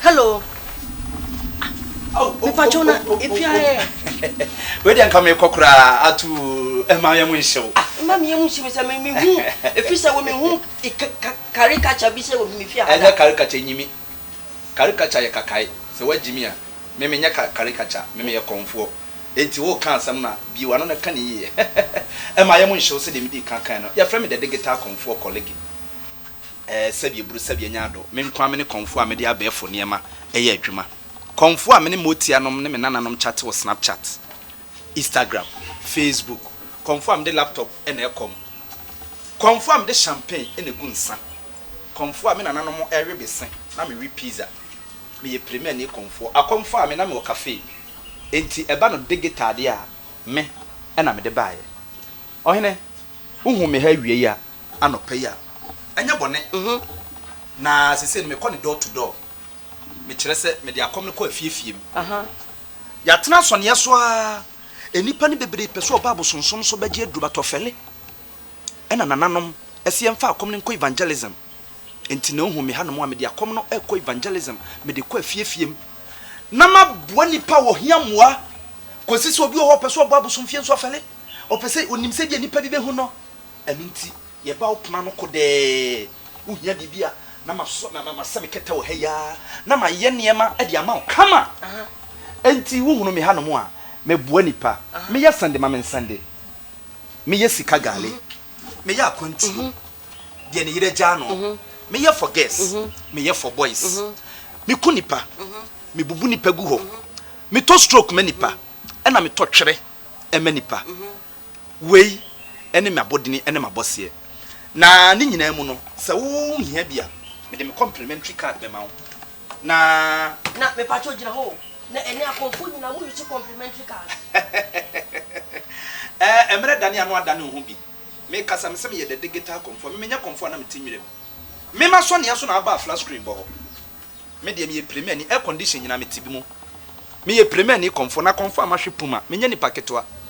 hello mepatwo na ɛpia ɛ wedeɛ nka mekɔ koraa ato ɛma yɛ mu nhyɛ wo ma meyɛ mu nhyɛ me sɛ mehu ɛfiri sɛ wo mehu karikacha bi sɛ wɔ mefie ɛnyɛ karikacha nyimi karikacha yɛ kakae sɛ woagyimi a me menyɛ karikacha me meyɛ kɔmfoɔ Enti woreka asɛm no a, bue w'ano na ka no yiye. Mma yɛn mu nhye wo sɛdeɛ medii kan kae no, Yɛfrɛ me The Digital Kɔmfoɔ Kɔlege. Ɛɛ, sɛdeɛ buru, sɛdeɛ nyaado, me nko ara me ne kɔmfoɔ a mede abɛɛfo nneɛma yɛ adwuma. Kɔmfoɔ a me ne m'otianom ne me nananom kyate wɔ Snapchat, Instagram, Facebook. Kɔmfoɔ a mede laptop na ɛkɔm. Kɔmfoɔ a mede champagne na ɛgu nsa. Kɔmfoɔ a me nananom we bese na mewe pizza. Meyɛ Premiani kɔmfoɔ. Akɔm faa me na mewɔ cafe. Enti ɛba no digital deɛ a, me na mede baeɛ. Ɔhene, wohuu me ha awiei a, anɔpa yi a, ɛnyɛ bɔne. Mhu. Na seesei no, mekɔ no door to door. Mekyerɛ sɛ, mede akɔm no kɔ afiefie mu. Aha. Yɛatena asɔneɛ so ara. Nnipa no bebree pɛ sɛ wɔba abosonsom so bɛgye aduro, but ɔfɛle. Ɛna nananom se yɛmfa akɔm no nkɔ evangelism. Enti na ohu me hanom a mede akɔm no rekɔ evangelism, mede kɔ afie afie mu na maboa nnipa a wɔhia mmoa, kosi sɛ obi wɔ hɔ a ɔpɛ sɛ ɔbɔ abosomfie nso afɛle, ɔpɛ sɛ onim sɛdeɛ nnipa bi bɛhu no. Ɛno nti yɛba wo pono ano kodɛɛ, wohia biribi a, na masɔ, na masɛ me kɛtɛ wɔ ha yi ara na mayɛ nneɛma de ama wo kama. Enti wohunu me hanom a, meboa nnipa, meyɛ sɛnde ma me nsɛnde, meyɛ sika gale. meyɛ akwantuo deɛ ne yerɛ gyaa no meyɛ for girls meyɛ for boys meku nipa mebubu nipa gu hɔ metɔ stroke ma nipa ɛna metɔ twerɛ ɛma nipa wei ɛne m'abɔdini ɛne m'abɔseɛ na ne nyinaa mu no sɛ wo hia bi a mede me complimentary card bɛma wo. Na. Na, mepakyɛw gyina hɔ o. Na ɛnnɛ akɔmfo nyinaa mo use complimentary cars. Ɛɛ, mmerɛ dane ano adane wo ho bi. Me kasa, me sɛ meyɛ the digital kɔmfo a, me menyɛ kɔmfo a na mete nwura mu. Me ma sɔneɛ so na aba a flat screen bɔ hɔ. Me deɛ meyɛ pirimani, air condition nyinaa mete bi mu. Meyɛ pirimani kɔmfo, na kɔmfo a mahwe puma, menyɛ nipa ketewa.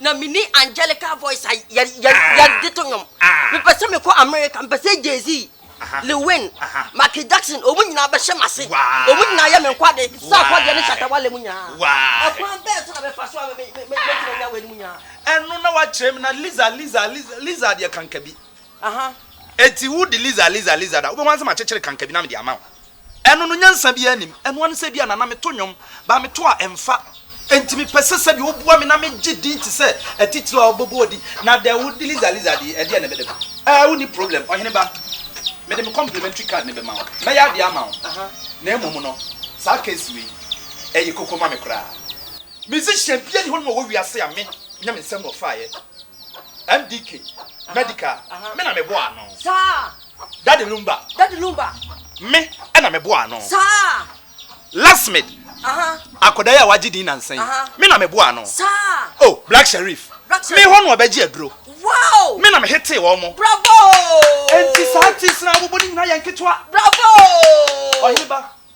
na mini angelical voice a yɛde to nnwom mepɛ sɛ mekɔ america mepɛ sɛ jz lewin maki jackson ɔmu nyinaa bɛhyɛ mase ɔmu nyinaa yɛ me nkwade sɛ akɔdeɛ ne shatawale mu nyinaa ɛkwan bɛɛ so na bɛfa so a mɛtumi anya wei no mu nyinaa ɛno na wakyerɛ me na liza liza liza deɛ kanka bi Aha, enti wo de Lisa, Lisa, Lisa da? Wobɛhu ara sɛ makyekyere kanka bi na mede ama wo. Ɛno no, nyansa biara nnim. Ɛno ara ne sɛ ebia Nana meto nnwom, baa meto a ɛmfa. Enti mepɛ sɛ sɛdeɛ woboa me na megye din te sɛ atitire a wɔbobɔɔ din. Na deɛ wo de Lisa, Lisa deɛ, ɛdeɛn na mede ma wo? Ɛɛ, wonni problem, ɔhene ba. Mede me complimentary card no bɛma wo. Mɛyɛ adeɛ ama wo. Aha, na mmom no, saa case wei, ɛyɛ koko ma me koraa. Musician biara nni hɔ nom wɔ wiase a me, nyɛ me nsam na ɔfaeɛ. MDK Medical me na me boa ano. Daddy Lumba me na me boa ano. Lasmid akɔdaa yi a wagye din nansa yi me na me boa ano. Oh Black Sherif me hɔ na ɔbɛgye aduro me na me hetee wɔn. Enti saa artists no a wɔbɔ no nyinaa yɛ nketewa. Ɔhene ba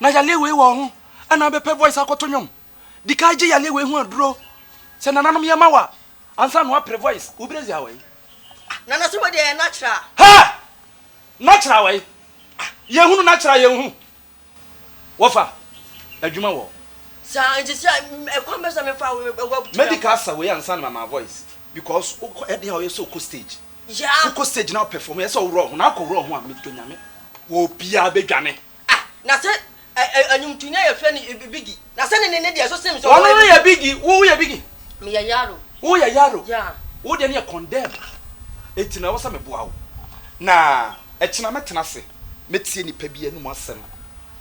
na yale wei wɔ wo ho ɛna wobɛpɛ voice akɔto nwom dikan gye yale wei ho aduro sɛ nananom yɛ ma wa ansa na wapere voice wo brezi awai nana so wɔde ɛyɛ natural ha natural awai yɛ hunu natural yɛ hu wɔfa adwuma wɔ saa nti sɛ ɛkwan bɛ sɛ mefa wo medical asa wei ansa na mama voice because ɛde a ɔyɛ sɛ ɔkɔ stage Yeah. Wo kɔ stage na wo perform yɛ sɛ wo wura ho na akɔ wura ho a me dɔ nyame wɔ obiaa bɛ dwane. Ah na sɛ ɛ ɛ nwomtoni a yɛfrɛ no ɛ biggy na sɛ ne ne ne deɛ so seem sɛ ɔno no yɛ biggy wo wo yɛ biggy me yɛ yaro wo yɛ yaro yeah wo deɛ no yɛ condemn enti na ɛwɔ sɛ me boa wo na ɛkyena mɛ tena ase mɛ tie nipa bi anum asɛm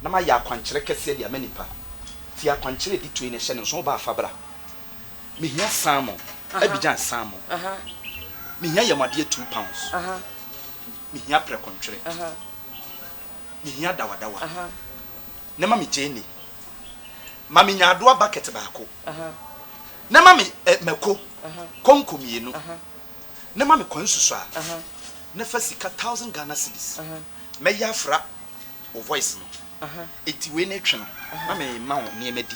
na ma yɛ akwankyerɛ kɛseɛ de ama nipa tie akwankyerɛ ɛdi tue na ɛhyɛ ne nso wo ba afa bra Mehia salmon, Abidjan salmon, mehia yamuadeɛ two pounds, mehia prɛko ntwere, mehia dawadawa, ne ma me gyeene, ma me nyaadoa bucket baako, ne ma me mako konko mmienu, ne ma me kwansusuaa, ne fa sika thousand Ghana cedis, mɛyɛ afra wo voice no, enti wei ne twe no na me ma wo nneɛma di.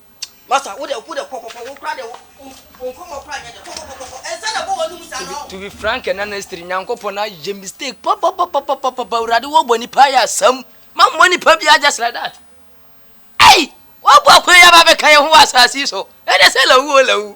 Master wo deɛ wo deɛ kɔ kɔ kɔ wo kora deɛ wo wo nkɔmɔ kora nyɛ deɛ kɔ kɔ kɔ kɔ kɔ nsa na ɛbɔ w'anum saa no To be frank and honestly, Nyankopɔn ayɛ mistake papapapapapa, Awurade wɔbɔ nipa ayɛ asɛm, mammɔ nipa biara just like that. Ei! Wɔabɔ akwan yi aba abɛka yɛn ho wɔ asase yi so, ɛnde sɛ lawu o lawu,